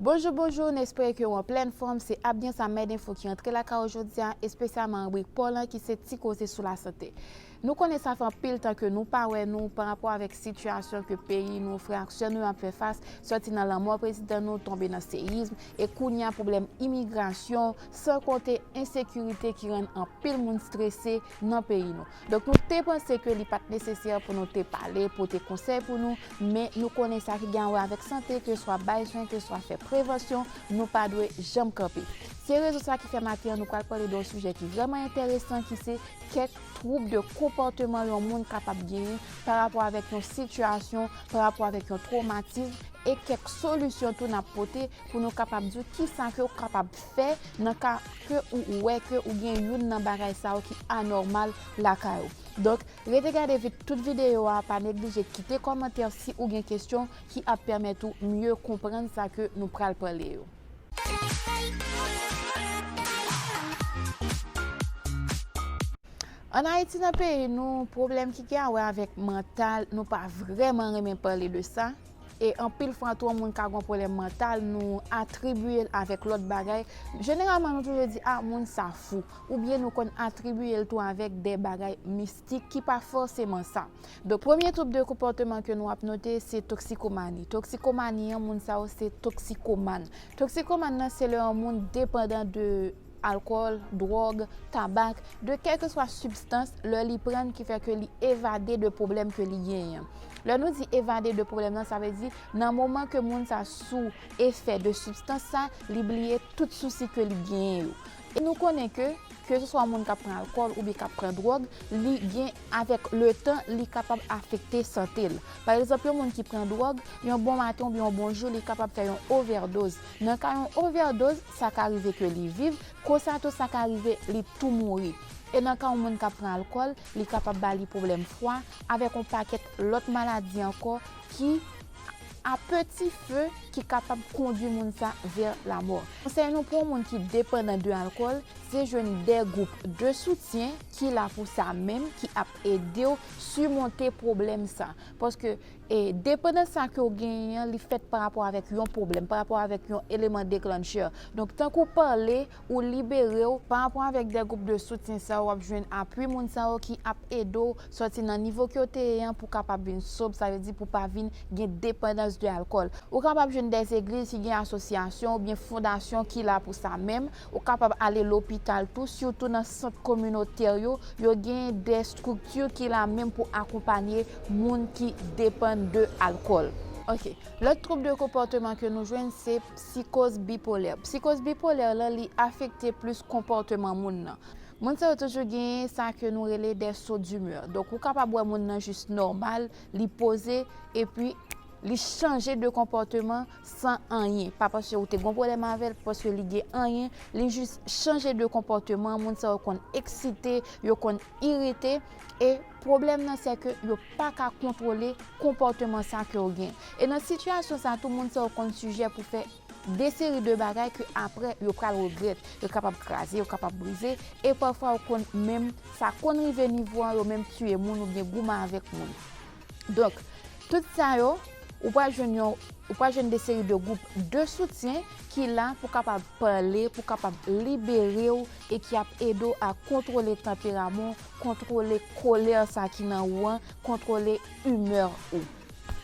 Bonjou bonjou n espere ke w an plèn fòm se ap gen sa mèd enfo ki antre lakay ou jodi a espesyalman ribrik paw lan ki se ti koze sou lasante nou konnen sa fè anpil tan ke nou pa wè nou pa rapò avèk sitiyasyon ke peyi nou frè ak sè nou yo ap fè fas sòti nan lanmò prezidan nou tonbe nan seyizm e kounya pwoblèm imigrasyon san konte ensekirite ki rann anpil moun strese nan peyi nou. Donk nou te panse ke li pat nesesè pou nou te pale, pote konsèy pou nou, men nou konnen sa ki gen a wè avèk sante, ke swa bay swen, ke swa fè prevansyon, nou pa dwe janm kanpe. Se rezon sa ki fè maten an nou pral pale de yon sijè ki vrèman enteresan ki se kèk twoub de konpòteman yon moun kapab genyen pa rapò avèk yon sitiyasyon, pa rapò avèk yon twomatism, e kèk solisyon tou nap pote pou nou kapab di w kisa ke ou kapab fè nan ka. ke ou wè ke ou gen youn nan bagay sa yo ki anòmal lakay ou. Donk, rete gade tout videyo a, pa neglije kite kòmantè si ou gen kesyon ki ap pèmèt ou mye konprann sa ke nou pral pale yo. An Ayiti nan peyi nou, pwoblèm ki gen a wè avèk mantal, nou pa vrèman renmen pale de sa. e anpil fwa tou yon moun ka gen yon pwoblèm mantal nou atribiye l avèk lòt bagay, jeneralman nou toujou di ah moun sa fou oubyen nou konn atribiye l tou avèk de bagay mistik ki pa fòseman sa. Donk premye twoub de konpòteman ke nou ap note se toksikomani, toksikomani an moun sa yo se toksikoman, toksikoman nan se lè yon moun depandan de. alkòl, dwòg, tabak, de kèlkeswa sibstans lè li pran l ki fè ke li evade de pwoblèm ke li genyen an. Lè nou di evade de pwoblèm nan, sa vle di nan moman ke moun sa sou efè de sibstans sa, li bliye tout sousi ke li genyen yo. E nou konnen ke, ke se swa moun k ap pran alkòl oubyen k ap pran dwòg, li gen avèk le tan li kapab afekte sante l. Pa egzanp, yon moun ki pran dwòg, yon bon maten oubyen yon bon jou li kapab fè yon ovèdoz. Nan ka yon ovèdoz, sa ka rive ke li viv, konsa tou sa ka rive li tou mouri. E nan ka yon moun kap pran alkòl, li kapab ba li pwoblèm fwa, avèk yon pakèt lòt maladi ankò ki a peti fe ki kapab kondwi moun sa vè lamò. Konsèy nou pou yon moun ki depandan de alkòl, se jwenn de gwoup de soutyen ki la pou sa menm, ki ap edew simonte pwoblèm sa. Paske E depandans sa ke w genyen an, li fèt pa rapò avèk yon pwoblèm, pa rapò avèk yon eleman deklannchè. Donk, tank ou pale, ou libere w. Pa rapò avèk de gwoup de soutyen sa yo, w ap jwenn apui moun sa yo ki ap ede w sòti nan nivo ke w te ye an pou w kapab vin sob, sa vle di pou w pa vin gen depandans de alkòl. Ou kapab jwenn de egliz ki gen asosyasyon oubyen fondasyon ki la pou sa menm. Ou kapab ale lopital tou, sitou nan sant kominotè yo, yo gen de strikti ki la menm pou akonpanye moun ki depann de alkòl. Ok. Lòt twoub de konpòteman ke nou jwenn se psikoz bipolè. Psikoz bipolè lan li afekte plis konpòteman moun nan. Moun sa yo toujou genyen sa ke nou rele de so dimè. Donk ou kapab wè moun nan jis nòmal, li poze, epi. Li chanje de konpòteman san anyen. Pa paske ou te gon pwolèm avèl, pa paske li gen anyen. Li jis chanje de konpòteman. Moun sa yo konn eksite, yo konn irite. E pwoblèm nan se ke yo pa ka kontwole konpòteman sa ke yo gen. E nan sitiyasyon sa tou moun sa yo konn sijè pou fè de seri de bagay ke apre yo pral regrèt. Yo kapab kraze, yo kapab brize. E pafwa yo konn menm, sa konn rive nivo an yo menm tiye moun oubyen goumen avèk moun. Donk, tout sa yo, ou pral jwenn yon, ou pral jwenn de seri de gwoup de soutyen ki la pou kapab pale, pou kapab libere ou e ki ap ede ou a kontwole tanperaman ou, kontwole kolè sa ki nan ou an, kontwole imè ou.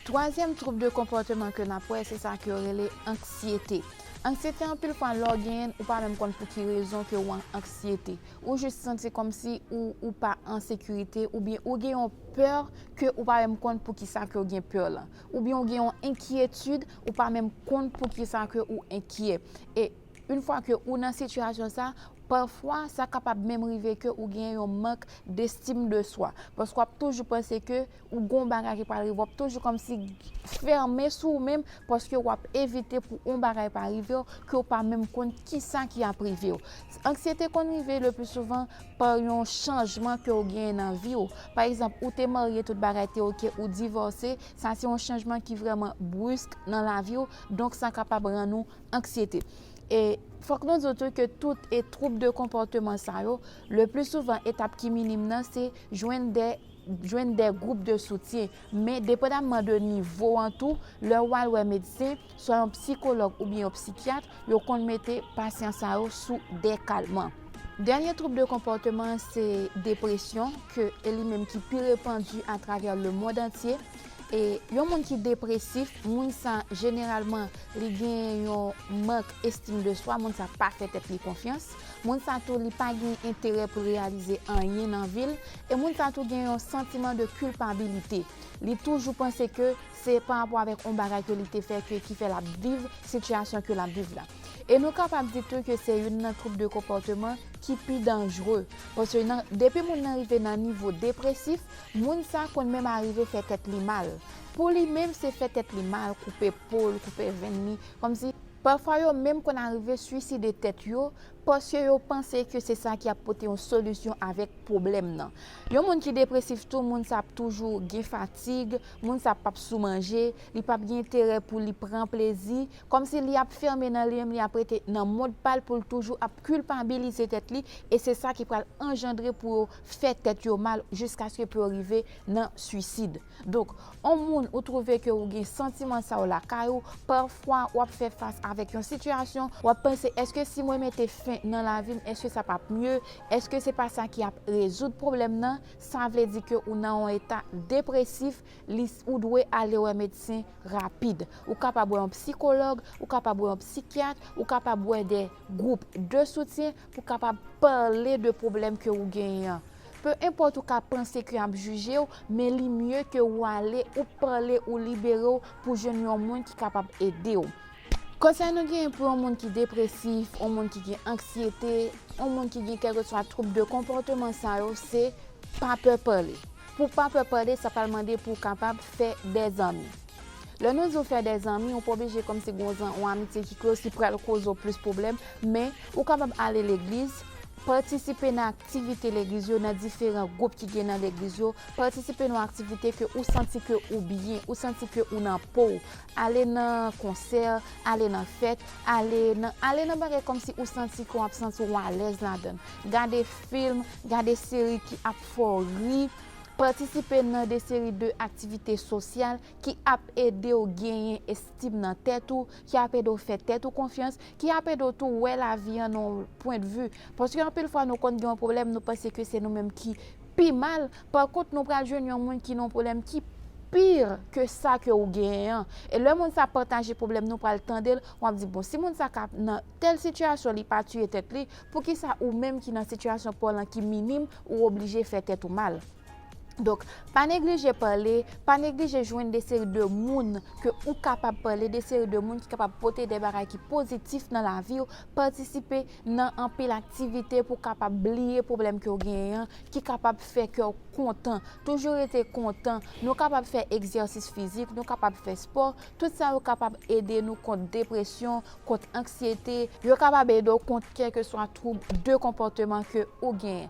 Twazyèm twoub de konpòteman ke n ap wè, se sa ke yo rele anksyete. Anksyete anpil fwa lè w genyen l, ou pa menm konn pou ki rezon ke ou an anksyete. Ou jis santi kòmsi ou ou pa an sekirite oubyen ou gen yon pè ke ou pa menm konn poukisa ke ou gen pè lan. Oubyen ou gen yon enkyetid ou pa menm konn poukisa ke ou enkyè. E yn fwa ke ou nan sitiyasyon sa, pafwa sa kapab menm rive ke ou gen yon mank destim de swa. Paske w ap toujou panse ke Ou gon bagay ki pral rive wap toujou kòmsi fèmen sou ou menm paske wap evite pou on bagay pa rivew ke ou pa menm konn kisa ki ap rivew. Anksyete konn rive le pli souvan pa yon chanjman ke ou genyen nan viw. Pa egzanp ou te marye tout bagay te ok ou divòse sa se yon chanjman ki vrèman brisk nan laviw donk sa kapab rann ou anksyete. E fòk nou diw tou ke tout e twoub de konpòteman sa yo le pli souvan etap ki minim nan se jwenn de. jwenn de gwoup de soutyen, men depandamman de nivo an tou, lè ou al wè medsen, swa yon psikològ oubyen yon psikyat, yo konn mete pasyan sa yo sou de kalman. Dènye twoub de konpòteman an se depresyon, ke e li menm ki pi repandi atravè lemond antye. E yon moun ki depresif, moun sa jeneralman li gen yon mank estim de swa, moun sa pa fè tèt li konfyans, moun sa tou li pa gen enterè pou l reyalize anyen nan vi l, E moun sa tou gen yon santiman de kilpabilite. Li toujou panse ke se pa rapò avèk yon bagay ke li te fè ke ki fè lap viv sitiyasyon ke lap viv la. E nou kapab di tou ke se youn nan twoub de konpòteman ki pi danjre. Paske nan depi moun nan rive nan nivo depresif, moun sa konn menm arive fè tèt li mal. Pou li menm se fè tèt li mal, koupe po l, koupe venn li, kòmsi. Pafwa yo menm konn arive swiside tèt yo Paske yo panse ke se sa ki ap pote yon solisyon avèk pwoblèm nan. Yon moun ki depresif tou, moun sa ap toujou gen fatig, moun sa pap sou manje, li pap gen enterè pou li pran plezi, kòmsi li ap fèmen nan li menm, li ap rete nan mond pa l pou l toujou ap kilpabilize tèt li, e se sa ki pral anjandre pou yo fè tèt yo mal jiskaske pou yo rive nan swisid. Donk, on moun ou twouve ke ou gen santiman sa yo lakay ou, pafwa ou ap fè fas avèk yon sitiyasyon, ou ap panse èske si mwen mete fen nan lavi m èske sa pap mye, èske se pa sa ki ap rezoud pwoblèm nan, sa vle di ke ou nan on eta depresif, li ou dwe ale wè medsen rapid. Ou kapab wè on psikològ, ou kapab wè on psikyat, ou kapab wè de gwoup de soutyen Pou kapab pale de pwoblèm ke ou genyen an. Pe enpòt ou ka panse ke yap jije ou, men li mye ke ou ale, ou pale, ou libere ou pou jwenn yon moun ki kapab ede ou. Konsèy nou genyen pou yon moun ki depresif, yon moun ki gen anksyete, yon moun ki gen kèlkeswa twoub de konpòteman sa yo se, pa pè pale. Pou pa pè pale sa pral mande pou kapab fè de zanmi. Lè nou di ou fè de zanmi, ou pa oblije kòmsi gen yon amitye ki klòz ki pral koze ou plis pwoblèm, men ou kapab ale legliz, patisipe nan aktivite legliz yo, nan diferan gwoup ki gen nan legliz yo, patisipe nan yon aktivite ke ou santi ke ou byen, ou santi ke ou nan po ou, ale nan konsè, ale nan fèt, ale nan, ale nan bagay kòmsi ou santi ke w ap santi ou alèz ladan l. Gade film, gade seri ki ap fè w ri, Patisipe nan de seri de aktivite sosyal ki ap ede w genyen estim nan tèt ou, ki ap ede w fè tèt ou konfyans, ki ap ede w tou wè lavi an nan yon pwendvi. Paske anpil fwa nou konn gen yon pwoblèm nou panse ke se nou menm ki pi mal, pa kont nou pral jwenn yon moun ki nan yon pwoblèm ki pi ke sa ke ou genyen an. E lè moun sa pataje pwoblèm nou pral tande l, wap di bon si moun sa ka nan tèl sitiyasyon li pa tiye tèt li, Poukisa ou menm ki nan sitiyasyon paw lan ki minim ou oblije fè tèt ou mal? Donk, pa neglije pale, pa neglije jwenn de seri de moun ke ou kapab pale, de seri de moun ki kapab pote de bagay ki pozitif nan laviw, patisipe nan anpil aktivite pou kapab bliye pwoblèm ke ou genyen an, ki kapab fè kew kontan. Toujou rete kontan, nou kapab fè egzèsis fizik, nou kapab fè spò, tout sa yo kapab ede nou kont depresyon, kont anksyete. Yo kapab ede w kont kèlkeswa twoub de konpòteman ke ou genyen.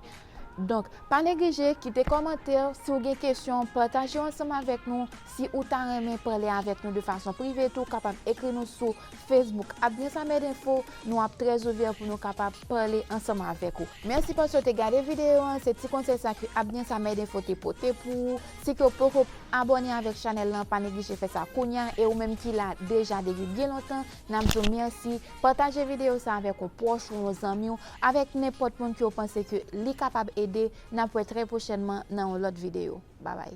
Donk, pa neglije kite kòmantè w si w gen kesyon, pataje w ansanm avèk nou. Si ou ta renmen pale avèk nou de fason prive tou, kapab ekri nou sou Facebook ap byensamedinfo. Nou ap trè ouvè pou nou kapab pale ansanm avèk ou. Mèsi paske w te gade videyo an. Se ti konsèy sa ke ap byensamedinfo te pote pou ou. Si ke w poko abone avek chanel lan pa neglije fè sa kounya e ou menm ki la deja depi byen lontan nap di w mèsi pataje video sa avek yon pwoch ou yon zanmi w avek nenpot moun ke w panse ke li kapab ede nap wè trè pwochènman nan yon lot video babay.